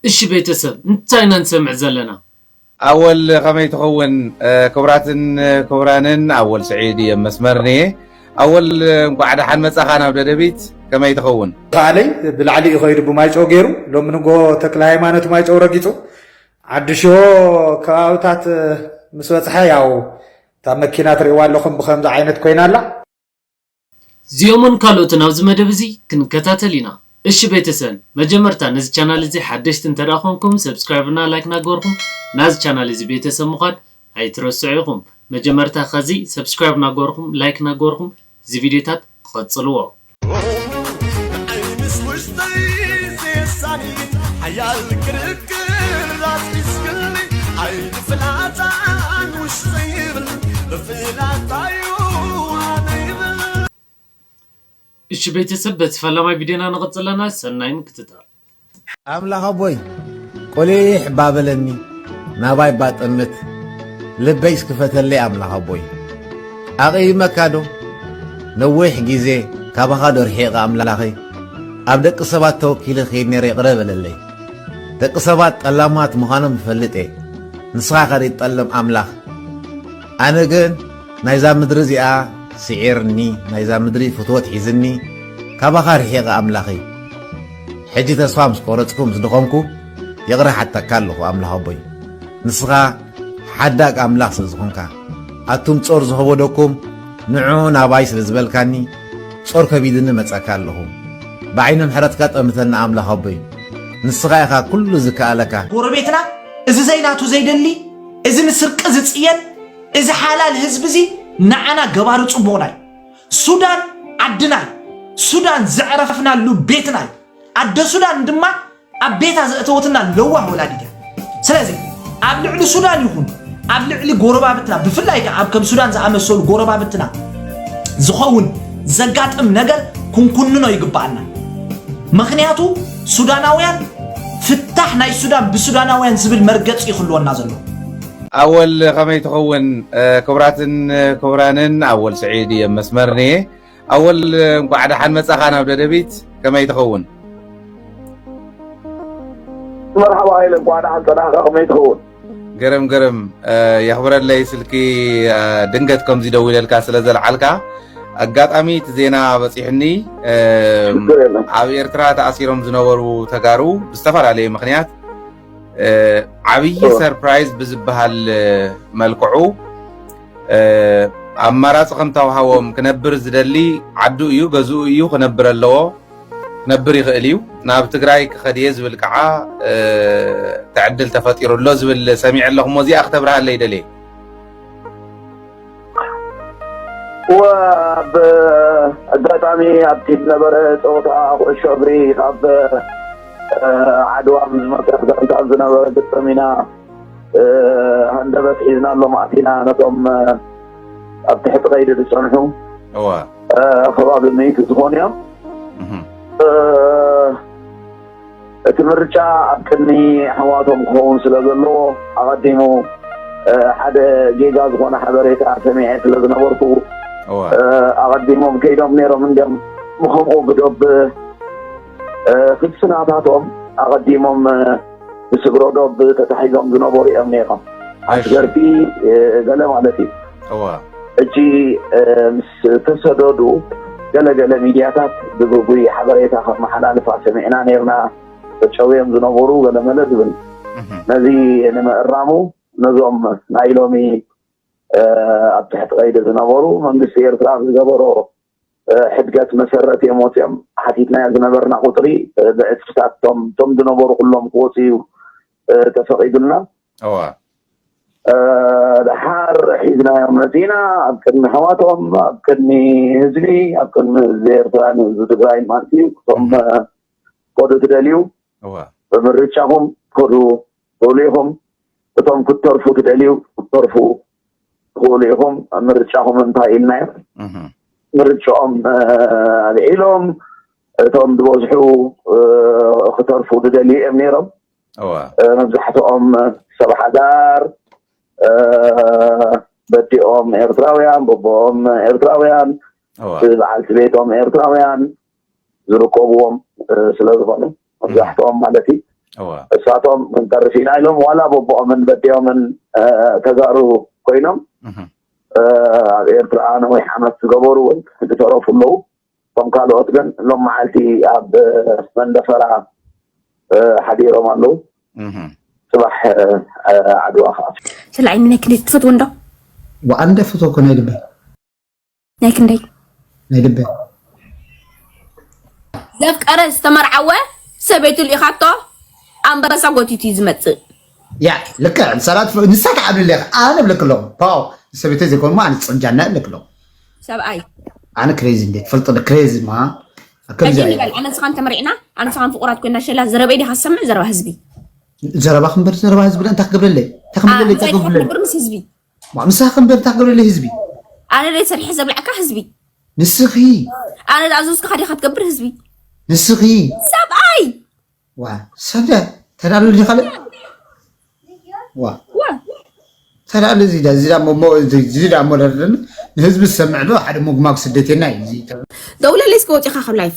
እሺ ቤተሰብ እንታይ ኢና ንሰምዕ ዘለና። ኣወል ከመይ ትኸውን ክብራትን ክብራንን ኣወል ስዒድ እየ መስመር ንየ ኣወል እንኳዕ ደሓን መጻኻ ናብ ደደቢት ከመይ ትኸውን። ተኻለይ ብላዕሊ እዩ ከይዱ ብማይጨው ገይሩ ሎሚ ንጎ ተክለ ሃይማኖት ማይጨው ረጊፁ ዓዲ ሽሆ ከባብታት ምስ በፅሐ ያው እታ መኪና ትሪእዋ ኣለኹም ብከምዚ ዓይነት ኮይና ኣላ እዚኦምን ካልኦትን ኣብዚ መደብ እዚ ክንከታተል ኢና። እሺ ቤተሰል መጀመርታ ነዚ ቻናል እዚ ሓደሽቲ እንተድኣ ኮንኩም subscribe እና like ናገበርኩም ናዚ ቻናል እዚ ቤተሰብ ምኳን ኣይትረስዑ ኢኩም መጀመርታ ከዚ subscribe ናገበርኩም like ናገበርኩም እዚ ቪድዮታት ቐጽልዎ። እሺ ቤተሰብ በቲ ፈላማይ ቪድዮና ንቅፅል ኣለና ሰናይ ምክትታል። ኣምላኽ ኣቦይ ቆሊሕ እባ በለኒ ናባይ እባ ጠምት ልበይ እስክፈተለይ ኣምላኽ ኣቦይ ኣቕይመካ ዶ ነዊሕ ግዜ ካባኻ ዶ ርሒቐ ኣምላኸይ ኣብ ደቂ ሰባት ተወኪለ ከይድ ነረ ይቕረ በለለይ ደቂ ሰባት ጠላማት ምዃኖም እፈልጥ እየ ንስኻ ከደይትጠልም ኣምላኽ ኣነ ግን ናይዛ ምድሪ እዚኣ ስዒርኒ ናይዛ ምድሪ ፍትወት ሒዝኒ ካባኻ ርሒቐ ኣምላኸይ ሕጂ ተስፋ ምስ ቆረጽኩ ምስ ድኾምኩ ይቕረ ሓተካ ኣለኹ ኣምላኽ ኣቦይ ንስኻ ሓዳግ ኣምላኽ ስለ ዝኾንካ ኣቱም ጾር ዝኸበደኩም ንዑ ናባይ ስለ ዝበልካኒ ጾር ከቢድኒ መጸካ ኣለኹ ብዓይኒ ምሕረትካ ጠምተና ኣምላኽ ኣቦይ ንስኻ ኢኻ ኩሉ ዝከኣለካ ጎረቤትና እዚ ዘይናቱ ዘይደሊ እዚ ንስርቂ ዝጽየን እዚ ሓላል ህዝቢ እዚ ንዓና ገባሪ ጽቡቕና እዩ። ሱዳን ዓድና እዩ። ሱዳን ዘዕረፍናሉ ቤትና እዩ። ኣደ ሱዳን ድማ ኣብ ቤታ ዘእተወትና ለዋህ ወላዲት እያ። ስለዚ ኣብ ልዕሊ ሱዳን ይኹን ኣብ ልዕሊ ጎረባብትና ብፍላይ ከዓ ኣብ ከም ሱዳን ዝኣመሰሉ ጎረባብትና ዝኸውን ዘጋጥም ነገር ክንኩንኖ ይግባኣና። ምክንያቱ ሱዳናውያን ፍታሕ ናይ ሱዳን ብሱዳናውያን ዝብል መርገፂ እዩ ክህልወና ዘለዎ። ኣወል ከመይ ትኸውን ክቡራትን ክቡራንን ኣወል ስዒድ እየ መስመር ንየ ኣወል እንኳዕ ደሓን መጻኻ ናብ ደደቢት ከመይ ትኸውን መርሓባ ሃይለ እንኳዕ ደሓን ጸናሕካ ከመይ ትኸውን ገረም ገረም የኽብረለይ ስልኪ ድንገት ከምዚ ደው ኢለልካ ስለ ዘልዓልካ ኣጋጣሚ እቲ ዜና በፂሑኒ ኣብ ኤርትራ ተኣሲሮም ዝነበሩ ተጋሩ ብዝተፈላለየ ምክንያት ዓብዪ ሰርፕራይዝ ብዝበሃል መልክዑ ኣማራፂ ከም ተውሃቦም ክነብር ዝደሊ ዓዱ እዩ ገዝኡ እዩ ክነብር ኣለዎ ክነብር ይኽእል እዩ ናብ ትግራይ ክኸድ እየ ዝብል ከዓ ትዕድል ተፈጢሩ ኣሎ ዝብል ሰሚዐ ኣለኹ እሞ እዚኣ ክተብርሃለይ ደልየ ኣብ ኣጋጣሚ ኣብቲ ዝነበረ ፀወታ ኩዕሾ እግሪ ካብ ዓድዋ ምስ መፅረፍ ጋንታ ዝነበረ ግጥም ኢና ሃንደበት ሒዝና ኣሎም ኣቲና ነቶም ኣብ ትሕቲ ቀይዲ ዝፀንሑ ከባቢ ምእቲ ዝኾኑ እዮም እቲ ምርጫ ኣብ ቅድሚ ኣሕዋቶም ክኸውን ስለ ዘለዎ ኣቐዲሙ ሓደ ጌጋ ዝኾነ ሓበሬታ ሰሚዐ ስለ ዝነበርኩ ኣቐዲሞም ከይዶም ነይሮም እንዲም ብከምኡ ብዶብ ፍልስናታቶም ኣቐዲሞም ብስግሮ ዶብ ተታሒዞም ዝነበሩ እዮም ነይሮም ኣስገርቲ ገለ ማለት እዩ ሕጂ ምስ ተሰደዱ ገለገለ ሚድያታት ብግጉይ ሓበሬታ ከመሓላልፋ ሰሚዕና ነርና ተጨውዮም ዝነበሩ ገለመለ ዝብል ነዚ ንምእራሙ ነዞም ናይ ሎሚ ኣብ ትሕቲ ቀይዲ ዝነበሩ መንግስቲ ኤርትራ ዝገበሮ ሕድገት መሰረት እዮም ወፂኦም ሓቲትናዮ ዝነበርና ቁፅሪ ብዕፅፍታት እቶም እቶም ዝነበሩ ኩሎም ክወፁ እዩ ተፈቒዱልና እዋ ድሓር ሒዝናዮም መፂና ኣብ ቅድሚ ኣሕዋቶም ኣብ ቅድሚ ህዝቢ ኣብ ቅድሚ ህዝቢ ኤርትራን ህዝቢ ትግራይን ማለት እዩ እቶም ከዱ ትደልዩ እዋ ብምርጫኹም ከዱ ትብሉ ኢኹም እቶም ክትተርፉ ትደልዩ ክትተርፉ ትኽእሉ ኢኹም ምርጫኹም እንታይ ኢልናዮ ምርጫኦም ኣልዒሎም እቶም ዝበዝሑ ክተርፉ ዝደልዩ እዮም ነይሮም መብዛሕትኦም ሰብ ሓዳር በዲኦም ኤርትራውያን በቦኦም ኤርትራውያን በዓልቲ ቤቶም ኤርትራውያን ዝርከብዎም ስለዝኾኑ መብዛሕትኦም ማለት እዩ እሳቶም ክንተርፍ ኢና ኢሎም ዋላ በቦኦምን በዴኦምን ተጋሩ ኮይኖም ኣብ ኤርትራ ነዊሕ ዓመት ዝገበሩ እውን ዝተረፉ ኣለዉ እቶም ካልኦት ግን ሎም መዓልቲ ኣብ መንደፈራ ሓዲሮም ኣለዉ ፅባሕ ዓድዋ ከዓ ስለዓይ ምነክልት ትፈትዎ እንዶ ወኣንደ ፍቶ ኮነ ልበይ ናይ ክንደይ ናይ ልበ ዘፍቀረ ዝተመርዓወ ሰበይቱ ልኢኻቶ ኣንበሳ ጎቲቱ እዩ ዝመፅእ ያ ልክዕ ሰላት ንሳ ትዓብሊ ኣለኻ ኣነ እብለክ ኣለኹ ፓው ሰበይተይ ዘይኮኑ ኣነ ፅርጃና እብለክ ኣለኹ ሰብኣይ ኣነ ክሬዚ እንዴ ትፈልጥ ክሬዚ ማ ከምዚ ሕጂ ንበል ኣነ ንስኻን ተመሪዕና ኣነ ንስኻን ፍቑራት ኮይና ሸላ ዘረበይ ዲኻ ዝሰምዕ ዘረባ ህዝቢ ዘረባ ክንበር ዘረባ ህዝቢ እንታይ ክገብረለይ እንታይ ክምደለይ እንታይ ክገብረለይ ምስ ህዝቢ ምሳኺ እምበር እንታይ ክገብረለይ ህዝቢ ኣነ ደይ ሰሪሐ ዘብላዕካ ህዝቢ ንስኺ ኣነ ዝኣዘዝኩኻ ዲኻ ትገብር ህዝቢ ንስኺ ሰብኣይ ዋ ሰብደ ተዳሉ ዲ ካልእ ዋ ተዳሉ እዚ እዚ ዳ ሞደርደኒ ንህዝቢ ዝሰምዕ ዶ ሓደ ሞግማግ ስደቴና እዩ ደውለለይ እስከ ወፂኻ ካብ ላይፍ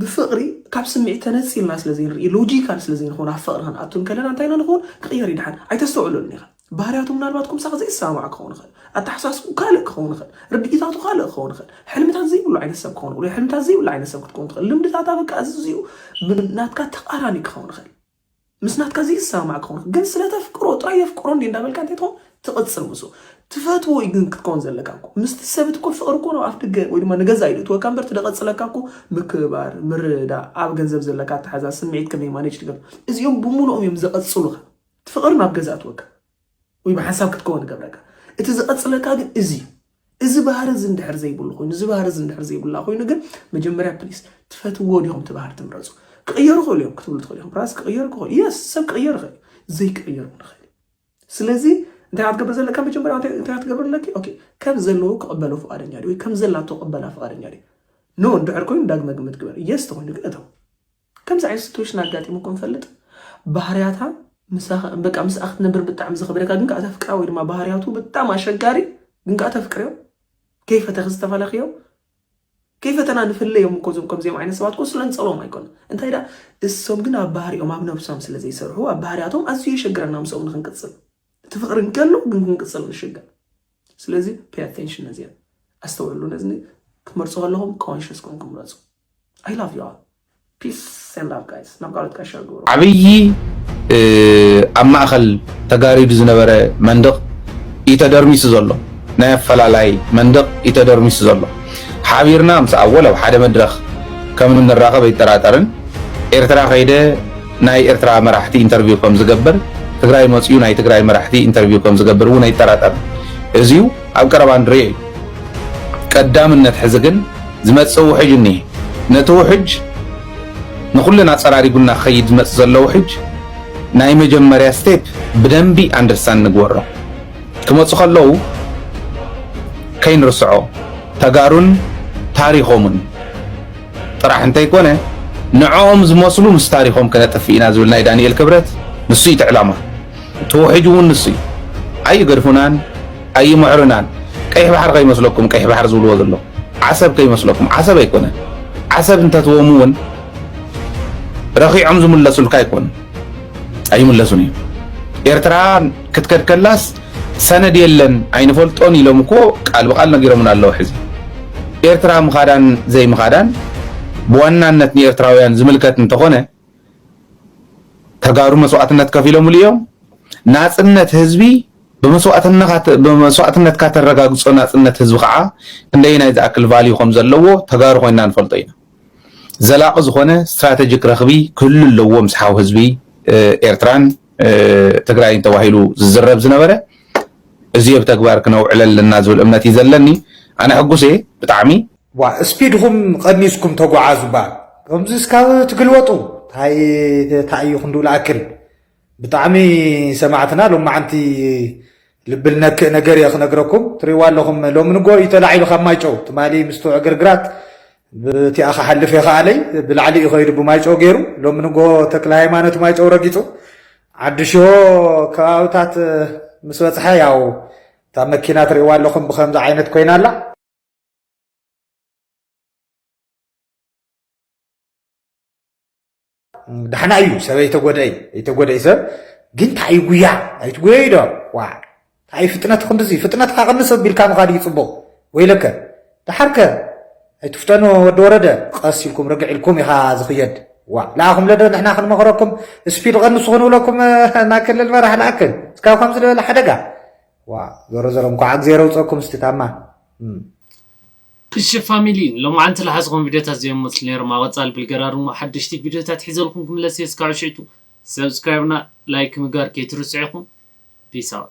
ብፍቕሪ ካብ ስምዒት ተነጺልና ስለ ዘይንርኢ ሎጂካል ስለ ዘይንኸውን ኣብ ፍቕሪ ክንኣቱ እንከለና እንታይ ኢና ንኸውን ክቕየር እዩ ድሓን ኣይተስተውዕለሉን ኢኻ ባህርያቱ ምናልባት ኩምሳኽ ዘይሰማማዕ ክኸውን ይኽእል ኣተሓሳስብኡ ካልእ ክኸውን ይኽእል ርድኢታቱ ካልእ ክኸውን ይኽእል ሕልምታት ዘይብሉ ዓይነት ሰብ ክኸውን ይኽእል ሕልምታት ዘይብሉ ዓይነት ሰብ ክትከውን ትኽእል ልምድታታ በቃ ኣዝዩ ናትካ ተቓራኒ ክኸውን ይኽእል ምስ ናትካ ዘይሰማማዕ ክኸውን ግን ስለ ተፍቅሮ ጥራይ የፍቅሮ እንዴ እንዳበልካ እንተይትኾን ትቕጽል ምስኡ ትፈትዎ እዩ ግን ክትከውን ዘለካ እኮ ምስቲ ሰብ እኮ ፍቕሪ እኮ ኣብ ኣፍደገ ወይ ድማ ንገዛ ኢሉ እትወካ እምበር ትደቐጽለካ እኮ ምክብባር ምርድዳእ ኣብ ገንዘብ ዘለካ ኣተሓዛ ስምዒት ከመይ ማኔጅ ትገብር እዚኦም ብሙሉኦም እዮም ዘቐጽሉኻ እቲ ፍቕሪ ናብ ገዛ እትወካ ወይ ብሓንሳብ ክትከውን ይገብረካ እቲ ዘቐጽለካ ግን እዚ እዩ እዚ ባህሪ እዚ እንድሕር ዘይብሉ ኮይኑ እዚ ባህሪ እዚ እንድሕር ዘይብላ ኮይኑ ግን መጀመርያ ፕሊስ ትፈትዎ ዲኹም እቲ ባህሪ ትምረፁ ክቕየሩ ይኽእሉ እዮም ክትብሉ ትኽእሉ ኢኹም ራስ ክቕየሩ ክኽእሉ የስ ሰብ ክቕየር ይኽእል ዘይክቕየር እውን ይኽእል ስለዚ እንታይ ክትገብር ዘለካ መጀመርያ እንታይ ክትገብር ኣለኪ ኦኬ ከም ዘለዎ ክቕበሎ ፍቓደኛ ድዩ ወይ ከም ዘላቶ ክቕበላ ፍቓደኛ ድዩ ኖ እንድሕር ኮይኑ ዳግመ ግምት ግበር የስ ተኮይኑ ግን እተው ከምዚ ዓይነት ስትዌሽን ኣጋጢሙኩም ይፈልጥ? ባህርያታ ምሳካ በቃ ምስኣ ክትነብር ብጣዕሚ ዝከብደካ ግን ከኣ ተፍቅራ ወይ ድማ ባህርያቱ ብጣዕሚ ኣሸጋሪ ግን ከኣ ተፍቅርዮ ከይፈተኪ ዝተፈለክዮ ከይፈተና ንፍለዮም እኮ እዞም ከምዚኦም ዓይነት ሰባት እኮ ስለንጸልኦም ኣይኮነ እንታይ ደኣ እሶም ግን ኣብ ባህሪኦም ኣብ ነብሶም ስለ ዘይሰርሑ ኣብ ባህርያቶም ኣዝዩ የሸግረና ምስኦም ንክንቅጽል እቲ ፍቅሪ እንከሎ ግን ክንቅጽል ንሽገር ስለዚ ፔይ ኣቴንሽን ነዚኣ ኣስተውዕሉ ነዚ ክትመርጹ ከለኹም ኮንሽስ ኮንኩም ምረጹ I love you all. Peace and love guys. ናብ ቃሎት ጋሻ ግብሩ ዓብዪ ኣብ ማእኸል ተጋሪዱ ዝነበረ መንድቕ እዩ ተደርሚሱ ዘሎ ናይ ኣፈላላይ መንድቕ እዩ ተደርሚሱ ዘሎ ሓቢርና ምስ ኣወል ኣብ ሓደ መድረኽ ከም እንራኸብ ኣይጠራጠርን ኤርትራ ከይደ ናይ ኤርትራ መራሕቲ ኢንተርቪው ከም ዝገብር ትግራይ መፅኡ ናይ ትግራይ መራሕቲ ኢንተርቪው ከም ዝገብር እውን ኣይጠራጠርን እዚዩ ኣብ ቀረባ ንሪኦ እዩ ቀዳምነት ሕዚ ግን ዝመጽእ ውሕጅ እኒሀ። ነቲ ውሕጅ ንኹልና ጸራሪጉና ክኸይድ ዝመጽእ ዘሎ ውሕጅ ናይ መጀመርያ ስቴፕ ብደንቢ ኣንደርስታንድ ንግበሮ። ክመጹ ከለዉ ከይንርስዖ ተጋሩን ታሪኾምን ጥራሕ እንተይኮነ ንዕኦም ዝመስሉ ምስ ታሪኾም ከነጥፍእ ኢና ዝብል ናይ ዳንኤል ክብረት ንሱ እዩ እቲ ዕላማ። እቲ ውሕጅ እውን ንሱ እዩ። ኣይገድፉናን። ኣይምዕሩናን ቀይሕ ባሕሪ ከይመስለኩም ቀይሕ ባሕሪ ዝብልዎ ዘለዉ ዓሰብ ከይመስለኩም ዓሰብ ኣይኮነን ዓሰብ እንተትቦም እውን ረኺዖም ዝምለሱልካ ኣይኮኑን ኣይምለሱን እዩ ኤርትራ ክትከድ ከላስ ሰነድ የለን ኣይንፈልጦን ኢሎም እኮ ቃል ብቃል ነጊሮምና ኣለዉ ሕዚ ኤርትራ ምኻዳን ዘይምኻዳን ብዋናነት ንኤርትራውያን ዝምልከት እንተኾነ ተጋሩ መስዋዕትነት ከፊሎምሉ እዮም ናፅነት ህዝቢ ብመስዋእትነትካ ተረጋግፆ ናፅነት ህዝቢ ከዓ ክንደየናይ ዝኣክል ቫልዩ ከምዘለዎ ተጋሩ ኮይንና ንፈልጦ ኢና። ዘላቒ ዝኾነ ስትራተጂክ ረኽቢ ክህሉ ኣለዎ ምስ ሓው ህዝቢ ኤርትራን ትግራይን ተባሂሉ ዝዝረብ ዝነበረ እዙይ ኣብ ተግባር ክነውዕለ ኣለና ዝብል እምነት እዩ ዘለኒ። ኣነ ሕጉስ እየ ብጣዕሚ። ዋእ ስፒድኹም ቐኒስኩም ተጉዓዙ ባእ ከምዚ እስካብ ትግልበጡ ታይ ተኣዩ ክንድኡ ልኣክል ብጣዕሚ ሰማዕትና ሎማዓንቲ ልቢ ልነክእ ነገር እየ ክነግረኩም ትሪእዋ ኣለኹም ሎሚ ንጎ እዩ ተላዒሉ ካብ ማይጨው ትማሊ ምስቶ ዕግርግራት ብቲኣ ክሓልፍ የኸኣለይ ብላዕሊ እዩ ከይዱ ብማይጨው ገይሩ ሎሚ ንጎ ተክለ ሃይማኖት ማይጨው ረጊፁ ዓዲ ሽሆ ከባብታት ምስ በፅሐ ያው እታ መኪና ትሪእዋ ኣለኹም ብከምዚ ዓይነት ኮይና ኣላ ዳሕና እዩ ሰብ ኣይተጎደ እዩ ኣይተጎደ እዩ ሰብ ግን እንታይ እዩ ጉያ ኣይትጉየ እዩ ዶ ዋ እንታይ እዩ ፍጥነት ክንዲዚ ፍጥነትካ ቅንስ ኣቢልካ ምኻድ እዩ ፅቡቕ ወይለከ ዳሓርከ ኣይትፍተኑ ወዲ ወረደ ቀስ ኢልኩም ርግዕ ኢልኩም ኢኻ ዝኽየድ ዋ ለኣኹም ለዶ ንሕና ክንመኽረኩም ስፒድ ቐንሱ ክንብለኩም እና ክልል መራሕ ለኣክል እስካብ ከምዚ ዝበለ ሓደጋ ዋ ዞሮ ዞሮ እንኳዕ እግዜር ኣውፀኩም ስቲ ታማ እሺ ፋሚሊ ሎማዓንቲ ልሓዝኹም ቪድዮታት ዘዮም መፅሉ ነይሮም ኣብ ቐፃሊ ብልገራር እሞ ሓደሽቲ ቪድዮታት ሒዘልኩም ክምለስ እየ እስካዑ ሽዕቱ subscribe እና like ምግባር ከይትርስዑ ኢኹም peace out።